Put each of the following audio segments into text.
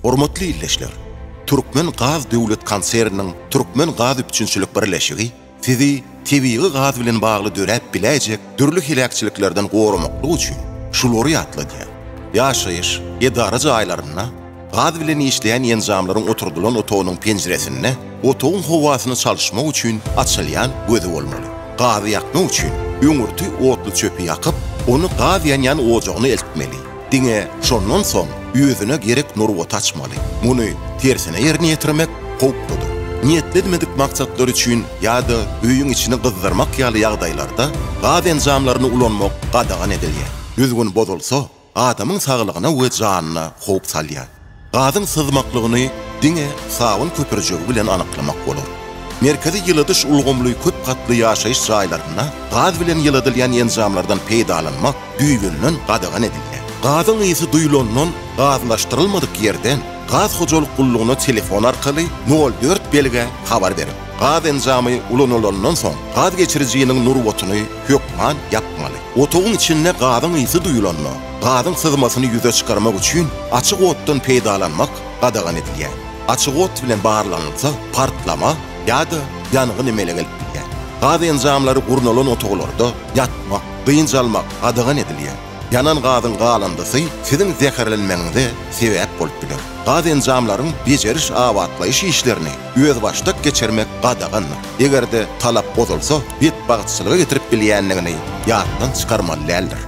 Hormatly ildeşler! Türkmen gaz döwlet konserniniň Türkmen gaz üpjünçilik birleşigi Sizi tebigy gaz bilen bagly döräp biläýjek dürli heläkçiliklerden goramaklyk üçin şulary ýatladýar, Ýaşaýyş, edara jaýlarynda, gaz bilen işleýän enjamlaryň oturdylan otagynyň penjiresinde otagyň howasyny çalyşmak üçin açylýan gözi bolmaly. Gazy ýakmak üçin öňürti otly çöpi ýakyp, ony gaz ýanýan ojagyna eltmeli. Diňe şondan soň özüne gerek nurbaty açmaly. Muny tersine ýerine ýetirmek howpludyr. Niýetlidmedik maksatlar üçin ýa-da öýüň içini gyzdyrmak ýaly ýagdaýlarda gaz enjamlaryny ulanmak gadagan edilýär. Düzgün bozulsa, adamyň saglygyna we janyna howp salýar. Gazyň syzmaklygyny diňe sabyn köpürjigi bilen anyklamak bolar. Merkezi ýyladyş ulgamly köp gatly ýaşaýyş jaýlarynda gaz bilen ýyladylýan enjamlardan peýdalanmak düýbünden gadagan edilýär. Gazyň ysy duýlandan gazlaşdyrylmadyk ýerden gaz hojalyk gullugyna telefon arkaly nol dört belgä habar berip, gaz enjamy ulanylandan soň gaz geçirijiniň nurbatyny hökman ýapmaly. Otagyň içinde gazyň ysy duýulanda, gazyň syzmasyny ýüze çykarmak üçin açyk otdan peýdalanmak gadagan edilýär. Açyk ot bilen barlanylsa, partlama ýa-da ýangyn emele gelip bilýär. Gaz enjamlary gurnalan otaglarda ýatmak, dynç almak gadagan edilýär. Ýanan gazyň galyndysy siziň zäherlenmegiňize sebäp bolup biler. Gaz enjamlaryň bejeriş-abatlaýyş işlerini özbaşdak geçirmek gadagandyr. eger-de talap bozulsa, betbagtçylyga getirip bilýändigini ýatdan çykarmaly däldir.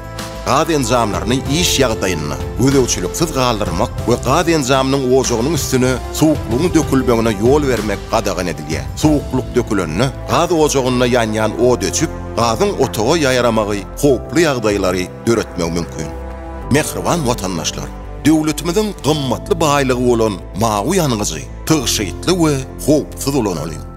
Gaz enjamlaryny iş ýagdaýynda gözegçiliksiz galdyrmak we gaz enjamynyň ojagynyň üstüne suwuklygyň dökülmegine ýol bermek gadagan edilýär. Suwuklyk dökülende, gaz ojagynda ýanýan ot öçüp, gazyň otaga ýaýramagy howply ýagdaýlary döretmegi mümkin. Mähriban watandaşlar! Döwletimiziň gymmatly baýlygy bolan mawy ýangyjy tygşytly we howpsuz ulanalyň.